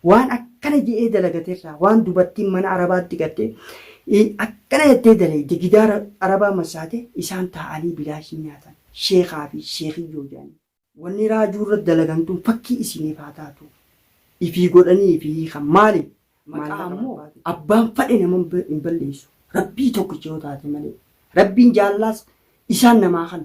Waan akkana je'ee dalagate irraa, waan dubartiin mana Arabaatti gartee, akkana jettee dalayde, gidaara Arabaa massaate, isaan taa'anii bilaashii nyaatan. Sheekhaa fi sheekhiyyoo je'aniin. Wanni raajuu irratti dalagan tun fakkii isiniif haa taatu. Ifii godhanii ifii hiikan. Maali? Maqaa ammoo abbaan fadhe nama hin balleessu. Rabbii tokkicha yoo taate malee. Rabbiin jaallaas isaan namaa kana.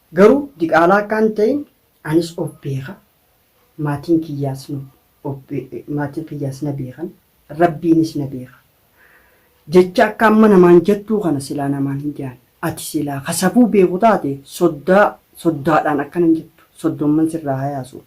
Garuu diqaalaa akka hin ta'in anis of beeka, maatiin kiyyaas nu of be- maatiin kiyyaas na beekan, Rabbiinis na beeka. Jecha akka amma namaan jettuu kana silaa namaan hin je'an. Ati silaa ka safuu beeku taate soddaa soddaadhaan akkana hin jettu. Soddomman sirraa hayaasuu.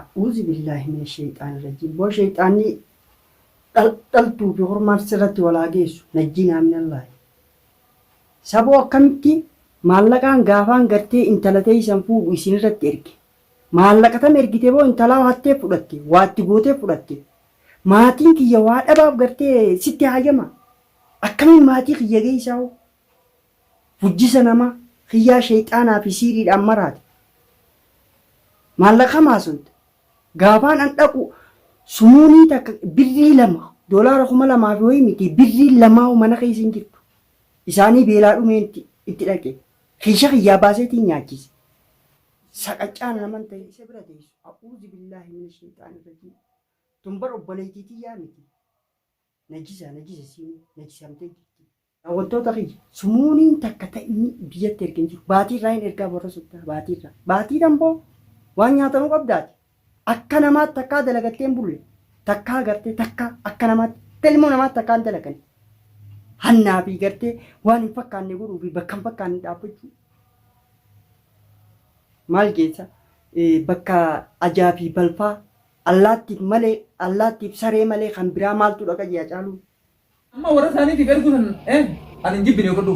A'uuzibillahi mina sheyxaani rajiim boo sheyxaanni dhal dhaltuu fi hormaan sirratti wal haa geessu najjiinaa minallahi Saboo akkamitti maallaqaan gaafaan gartee intala teeysan fuudhu isinirratti erge maallaqa tam ergite boo intalaa hatteef fudhatte waa itti gooteef fudhatte maatiin kiyya waa dhabaaf gartee sitti haayama akkamiin maatii kiyya geeysaa hoo Hujjisa nama kiyyaa sheyxaanaa fi siiriidhaan maraate. Maallaqa kam haasoyta? Gaafaan an dhaqu sumuunii takka birrii lama, doolaara kuma lamaa fi wayii mitii birriin lamaahu mana keessa hin jirtu. Isaanii beelaa dhumeen itti dhaqe. Kiisha kiyyaa baaseetiin nyaachise. Saqaccaan naman tahin isa bira teessu. A'uuzubillaahi mina sheyxaani rajiim. Tun bar obboleeytii tiyyaa miti. Najisa, najisa isiinuu. Najisamtee jirti. Daawwattoota kiyya sumuuniin takka ta inni biyyatti erge hin jiru. Baatii irraa hin ergaa warra soddaa baatii irraa. Baatii dhanboo waan nyaatanuu qabdaati. Akka namaatti takkaa dalagattee hin bulle. Takkaa gartee takkaa akka namaatti akka ilmoo namaatti takkaa hin dalagani. Hannaa fi gartee waan hin fakkaanne godhuu fi bakka hin fakkaanne dhaabbachuu. Maal geessa? Bakka ajaa fi balfaa allaattiif malee allaattiif saree malee kan biraa maaltu dhaqa jee Hacaaluun. Amma warra isaaniitiif erguu san eh ani hin jibbine godhu.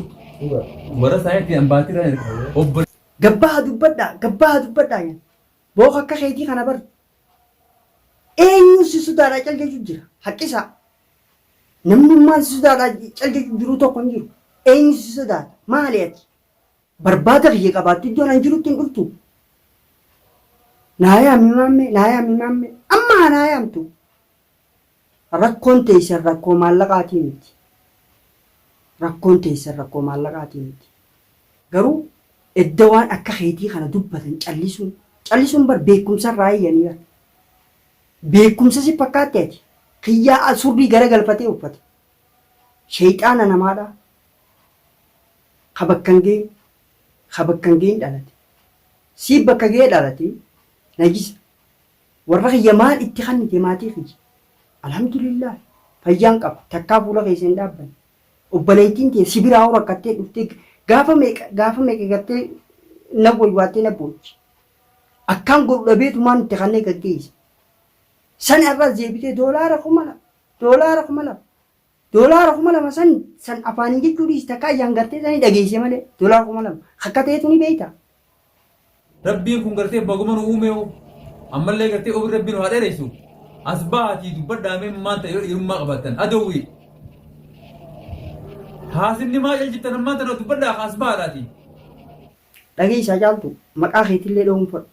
Warra isaaniitti an baatii irraa erga. Obbo Gabbaa dubbadhaa, gabbaa dubbadhaa jedhe. Booka akka keetii kana bar. Eenyuun si sodaadhaa cal jechuu jira. Haqqisaa. Namnummaan si sodaadhaa cal jechuu jiruu tokko hin jiru. Eenyu si sodaata? Maali ati? Barbaada kiyya qabaattu iddoon an jirutti hin dhuftu. Naa yaami maammee, naa yaami maammee. Amma haa naa yaamtu. Rakkoon teessan rakkoo maallaqaatii miti. Rakkoon teessan rakkoo maallaqaatii miti. Garuu edda waan akka keetii kana dubbatan callisuun callisuun bar beekumsa irraa eeyyanii bar. Beekumsa si fakkaatti ati. Kiyyaa a surrii gara galfatee uffata. Sheeyxaana namaadha. Ka bakka hin geenye. Ka bakka hin geenye dhalate. Sii bakka ga'ee dhalate najisa. Warra kiyya maal itti kannite maatii kiyya? Alhamdulillah fayyaan qaba takkaa fuula keessa hin dhaabbanne. Obboleettiin tiyya si biraa hoo rakkattee dhuftee gaafa meeqa gaafa meeqa gartee na waywaattee na boochi. Akkaan godhu dhabeetumaan itti kannee gaggeessa. San har'as deebitee doolaara kuma lama doolaara kuma lama Doolaara kuma lama san san afaaniin jechuu dhiisi takka ayyaan gartee sanii dhageeyse malee doolaara kuma lama akka ta'eetu ni beeyta. Rabbiin kun gartee baguma nu uumee hoo ammallee gartee umrii rabbii nu haa dheereysu as bahaatii dubbadhaa mee maan ta'e yoo dhiirummaa qabaattan adowwii haasinni maa caljittan ammaan tana dubbadhaa ka as bahaadhaatii. Dhageeysaa caaltu maqaa keetillee dhoowwuun fadhu.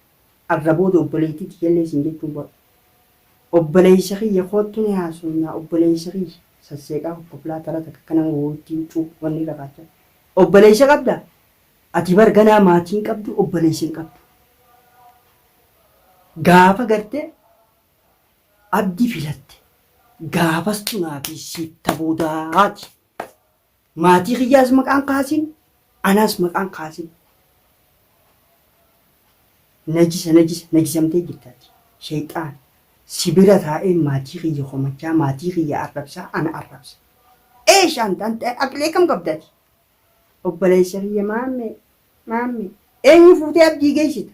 Arra booda obboleettii tiyyallee siin jechuun godha. Obboleessa kiyya koottu ni haasoynaa obboleessa kiyya sasseeqaa kokkoflaa tara takakka nama woyutti huccuu wanni irra kaachaa Obboleessa qabdaa? Ati bar ganaa maatii hin qabduu obboleessa hin qabduu. Gaafa garte Abdi filatte gaafas tunaa fi siif ta boodaati. Maatii kiyyaas maqaan kaasin, anaas maqaan kaasin. Najisa najisa najisamtee jirtaati. Shayxaan si bira taa'ee maatii kiyya komachaa, maatii kiyya arrabsaa, ana arrabsa. Eesh anta anta aqlee kam qabdaati? Obboleessa kiyya maammee maammee eenyu fuutee abdii geessita?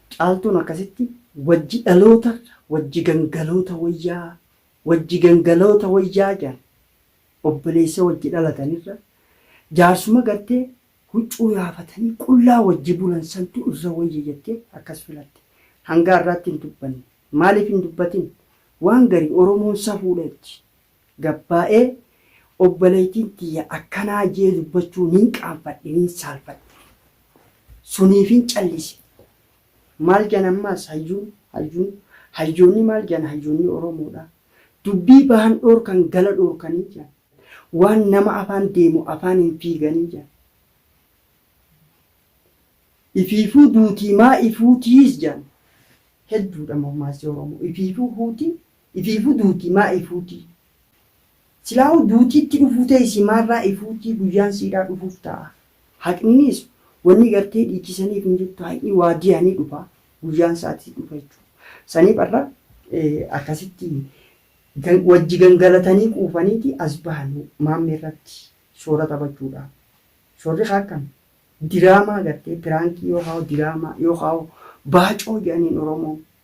Caaltuun akkasitti wajji dhaloota wajji gangaloota woyyaa wajji gangaloota woyyaa jedhan obboleessa wajji dhalatan irra jaarsuma gartee huccuu yaafatanii qullaa wajji bulan santu irra woyya jettee akkas filatte hanga arraatti hin dubbanne maaliif hin dubbatin waan gari oromoon safuudha jetti Gabbaa'ee, Obboleeytiin tiyya akkanaa je'ee dubbachuu nin qaanfadhe, nin saalfadhe. Suniifin callise. Maal je'an ammaas? Hayyuun, hayyuun, hayyoonni maal je'an? Hayyoonni Oromoodhaa. Dubbii bahan dhoorkan gala dhoorkanii je'an. Waan nama afaan deemu afaaniin fiiganii je'an. Ifiifuu duutii maa ifuutiis je'an. Hedduudha mammaassi Oromoo. Ifiifuu huutii, Ifiifuu duuti maa ifuutii. Silaahuu duutiitti dhufuu tee isii maarraa ifuutii guyyaan siidhaa dhufuuf taa'a. Haqniniis wannii gartee dhiichisaniif hin jirtu haqni waadiyaa ni dhufa guyyaan isaatis dhufa jechuudha. Saniif arra akkasitti wajji gangalatanii quufaniiti as bahan maammee irratti shoora taphachuudhaaf. Shoorri kaa akkam diraamaa gartee piraankii yookaa hoo diraamaa yookaa hoo baacoo jedhaniin oromoon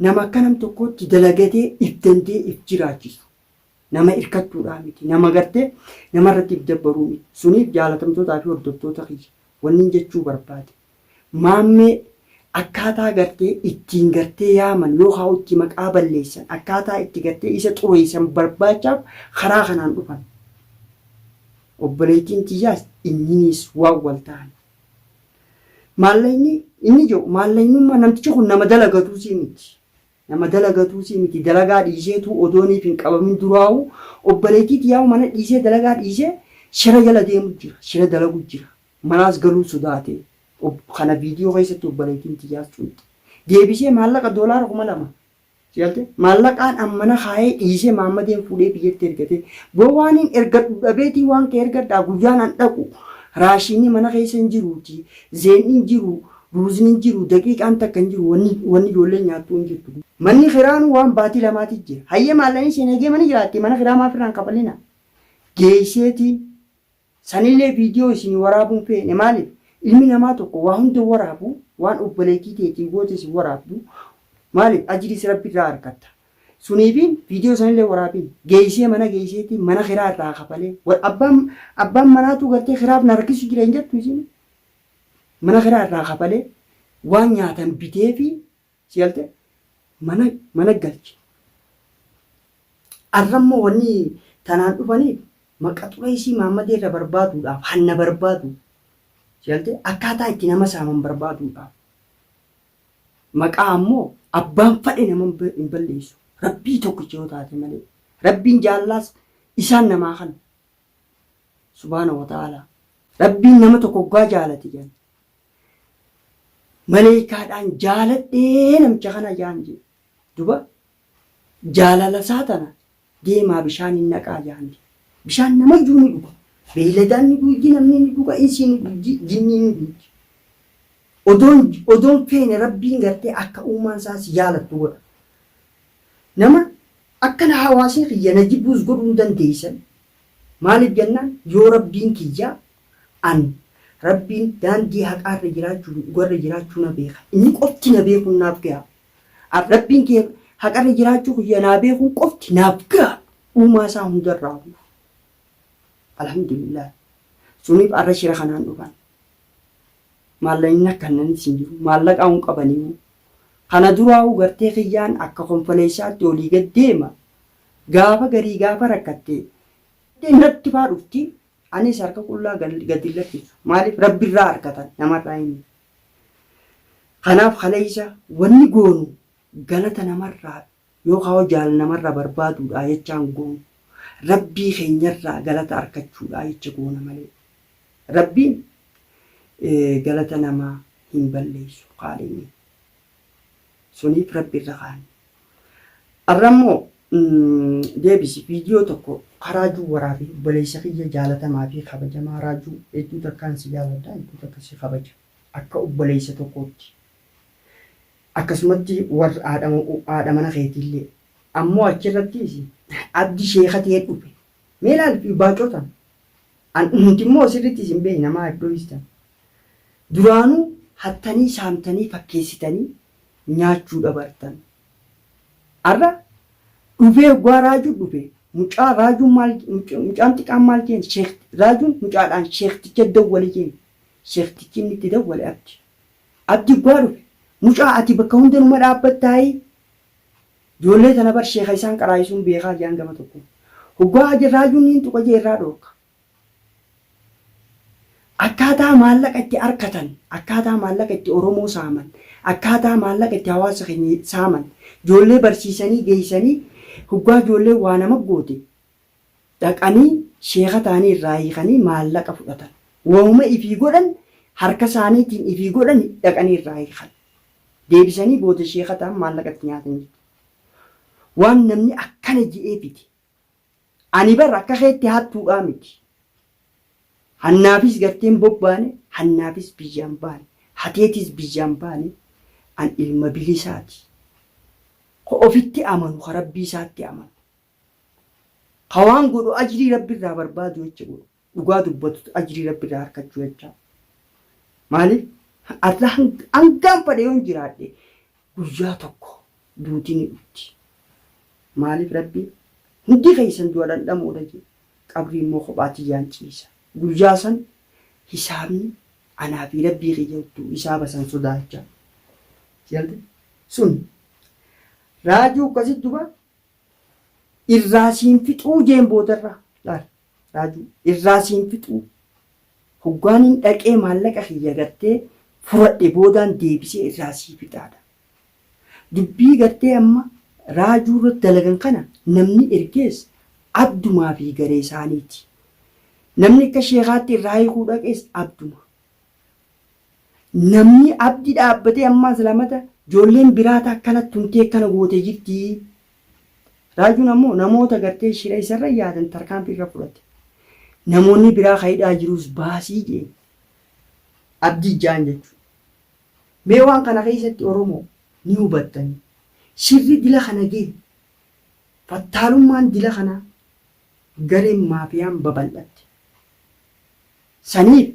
Nama akka nam tokkootti dalagatee if danda'ee if jiraachisu. Nama irkattuudhaa miti. Nama gartee nama irratti if dabbaruu miti. Suniif jaalatamtootaa fi hordoftoota kiyya wannin jechuu barbaade Maammee akkaataa gartee ittiin gartee yaaman yookaa itti maqaa balleessan akkaataa itti gartee isa xureessan barbaachaaf karaa kanaan dhufan. Obboleettiin tiyyaas inniniis waan wal tahan. Maallaqni inni jedhu maallaqnummaa namtichi kun nama dalagatuusii miti. Nama dalagatuusii miti dalagaa dhiiseetuu odooniif hin qabamin duraa'uu obboleettii tiyyaa mana dhiisee dalagaa dhiisee shira jala deemu jira shira dalagu jira manaas galuu sodaatee kana viidiyoo keessatti obboleettiin tiyyaas cunte deebisee maallaqa doolaara kuma lama Sigalte? Maallaqaan an mana kaayee dhiisee Maammadeen fuudhee biyyatti ergate. Boo waaniin ergadhu dhabeetii waan kee ergadhaa guyyaan an dhaqu raashiinni mana keessa hin jiruutii, zeeynni hin jiruu, ruuzni hin jiruu, daqiiqaan takka hin jiru wanni wanni ijoolleen nyaattuu hin jirtu. Manni kiraanuu waan baatii lamaatii jira. Hayyee maallaqni seeneegee mana jiraattii mana kiraa maaf irraa hin kafalinaa? Geeyseetiin Sanilee video isinii waraabuun feene maaliif ilmi namaa tokko waa hunda waraabu waan obboleetii teetii goote isin waraabdu maaliif ajiriis rabbi irraa arkatta suniifiin video sanilee waraabiin geeysee mana geeyseetii mana kiraa irraa kafalee wal abbaan abbaan manaatuu gartee kiraaf na rakkisu jira hin jettu isin mana kiraa irraa kafalee waan nyaatan biteefii Si galte mana mana galchi. Arrammoo wanni tanaan dhufaniif maqa xureessii Maammadee irra barbaaduudhaaf hanna barbaadu. Si galte akkaataa itti nama saaman barbaaduudhaaf. Maqaa ammoo abbaan fadhe nama hin balleessu. Rabbii tokkicha yoo taate malee. Rabbiin jaallaas isaan namaa kan. Subhaana wa ta'aalaa. Rabbiin nama tokko oggaa jaalate jedhan. Maleeykaadhaan jaaladhee namicha kana jaan jee. Duba jaalala isaa tana deemaa bishaaniin naqaa jaan jee. Bishaan namayyuu ni dhuga. Beeyladaan ni dhuuji, namni ni dhuga, insii ni dhuuji, jinniin ni dhuuji. Odoon odoon feene Rabbiin gartee akka uumaan isaa si jaalattu godha. Nama akka na hawaasni kiyya na jibbuus godhuu hin dandeeysan. Maaliif jennaan yoo Rabbiin kiyya An, Rabbiin, daandii haqaarra jiraachuu fi dhugarra jiraachuu na beeka. Inni qofti na beekuun naaf gaha. An, Rabbiin kiyya haqarra jiraachuu kiyya naa beekuun qofti naaf gaha. Uumaa isaa hundarraa uume. Alhamdulillaahi. Suniif arra shira kanaan dhufan. Maallaqni na kannanis hin jiru. Maallaqaa hin qabaniyu. Kana duraa'uu gartee kiyyaan akka konfoleessaatti olii gad deema. Gaafa garii gaafa rakkatte natti faa dhufti. Anis harka qullaa gad hin lakkisu. Maaliif? Rabbi irraa arkata, nama irraa hin. Kanaaf kaleessa wanni goonu galata nama irraa yookaan jaal nama irraa barbaaduudhaa jechaa hin goonu. Rabbii keenya irraa galata arkachuudhaa jecha goona malee. Rabbiin galata namaa hin balleessu, Khaaliqni. Suniif rabbi irra kaa'an. Arra immoo deebisi viidiyoo tokko ka raajuu waraabi obboleessa kiyya jaalatamaa fi kabajamaa raajuu hedduu takkaan si jaaladha hedduu takka si kabaja akka obboleessa tokkootti akkasumatti warra haadha haadha mana keetiillee ammoo achirrattiis abdi sheeka ta'ee dhufe mee laal fi baacoo tan an nuti immoo sirritti isin beekna maa iddoo istan Duraanuu hattanii saamtanii fakkeessitanii nyaachuu dabartan. Ar'a dhufee hoggaa raaju dhufe mucaa raajuun maal mucaan xiqaan maal jeen sheek raajuun mucaadhaan sheekticha dawwali jeen sheektichi inni itti dawwale abdi. Abdi hoggaa dhufe mucaa ati bakka hunda numa dhaabbattaayii ijoollee tana bar sheeka isaan qaraayisuun beekaa jean gafa tokko hoggaa raajuun niin tuqa jee irraa dhoorka. Akkaataa maallaqa itti arkatan, akkaataa maallaqa itti Oromoo saaman, akkaataa maallaqa itti hawaasa keenya saaman, joollee barsiisanii geessanii hoggaa joolleen waa nama goote dhaqanii sheeka ta'anii irraa hiikanii maallaqa fudhatan. Wahuma ifii godhan harka isaaniitiin ifii godhan dhaqanii irraa hiikan. Deebisanii booda sheeka ta'an maallaqa itti nyaatan jechuudha. Waan namni akkana je'eefiti. Ani bar akka keetti hattuudhaa miti. Hannaafis gartee hin bobbaane, hannaafis biyyaa hin baane, hateetis biyyaa hin baane, an ilma bilisaati. Ka ofitti amanu, ka Rabbii isaatti amanu. Ka waan godhu ajrii Rabbi irraa barbaadu jecha godhu. dhugaa dubbatut ajrii rabbiraa harkachuu jechaa maalif Allah hangaan fadhe yoon jiraadhe guyyaa tokko duuti ni dhufti maalif rabbi hundi keessan du'a dhandhamoodha jee qabrii immoo kophaa tiyyaan ciisa guyyaa san hisaabni anaa fi rabbii kiyya uttuu hisaaba san sodaachaa sigalte sun raajuu akkasi duba irraa siin fixuu jeen boodarraa laal Raaju irraa siin fixuu hoggaanin dhaqee maallaqa kiyya gartee furadhe boodaan deebisee irraa sii fixaadha. Dubbii gartee amma Raajuu irratti dalagan kana namni ergees Abdumaa fi garee isaaniiti. Namni akka sheekaatti irraa hiikuu dhaqees Abduma. Namni Abdi dhaabbatee ammaas lamata ijoolleen biraata akkana tumtee akkana goote jirti Raajuun ammoo namoota gartee shira isarra yaadan tarkaanfii irra fudhate. Namoonni biraa ka hidhaa jiruus baasii jeen. Abdii jaan jechuudha. Mee waan kana keessatti Oromoo ni hubattanii. Shirri dila kana gee. Fattaalummaan dila kanaa gareen maafiyaan babal'atte. Saniif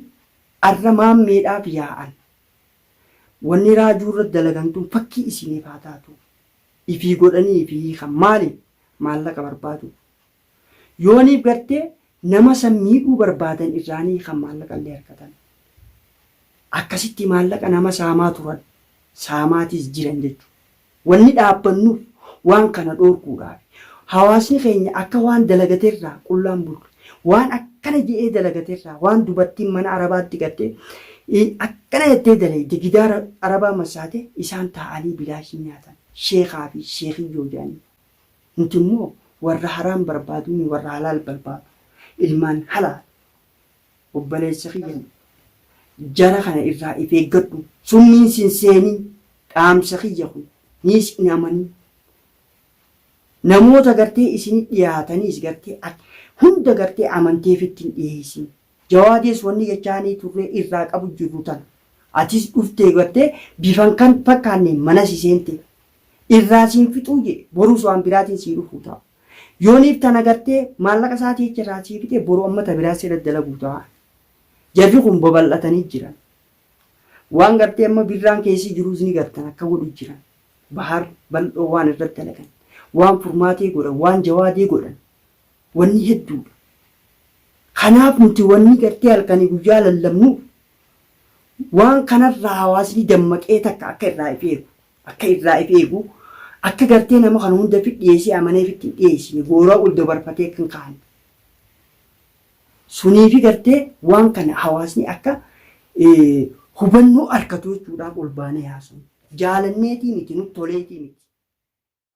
arra maammeedhaaf yaa'an. Wanni raajuu irratti dalagan tun fakkii isiniif haa taatu. ifii godhanii fi hiikan maali? Maallaqa barbaaduuf. Yooniif gartee nama san miidhuu barbaadan irraa ni hiikan maallaqa illee argatan. Akkasitti maallaqa nama saamaa turan, saamaatiis jiran jechu. Wanni dhaabbannuuf waan kana dhoorkuudhaafi. Hawaasni keenya akka waan dalagate irraa qullaan bulu. Waan akkana je'ee dalagate irraa waan dubartiin mana Arabaatti galte akkana jettee dalayde gidaara Arabaa massaate isaan taa'anii bilaashii nyaatan. Sheekhaa fi sheekiyyoo je'aniin. Nuti immoo warra haraam barbaaduunii warra halaal barbaadu. Ilmaan halaal. Obboleessa kiyya jara kana irraa if eeggadhu. Summiin sin seenin. Dhaamsa kiyya kun. Niis hin amanin. Namoota gartee isini dhiyaataniis gartee ati hunda gartee amantee fitti hin dhiheessin. Jawaadees wanni jechaanii turree irraa qabu jirru tana. Atis dhuftee gartee bifan kan fakkaanneen mana si seentee. Irraa si hin fixuu je'e boruus waan biraatiin sii dhufuu ta'a. Yooniif tana gartee maallaqa isaatii jecha irraa sii fixee boru amma ta biraa sirra dalaguu ta'a. Jarri kun babal'atanii jiran. Waan gartee amma birraan keessi jiruus ni gartan akka godhu jiran. Bahar bal'oo waan irrat dalagan, waan furmaatee godhan, waan jawaadee godhan wanni hedduudha. Kanaaf nuti wanni gartee halkanii guyyaa lallabnuuf waan kanarraa hawaasni dammaqee takka akka irraa if eegu, akka irraa if eegu, akka gartee nama kana hunda fit dhiyeessee amanee fit hin dhiyeessine, gooraa ol dabarfatee akka hin kaane. Suniifi gartee waan kana hawaasni akka hubannoo arkatuu jechuudhaaf ol baanee haasofne. Jaalanneetii miti, nut toleetii miti.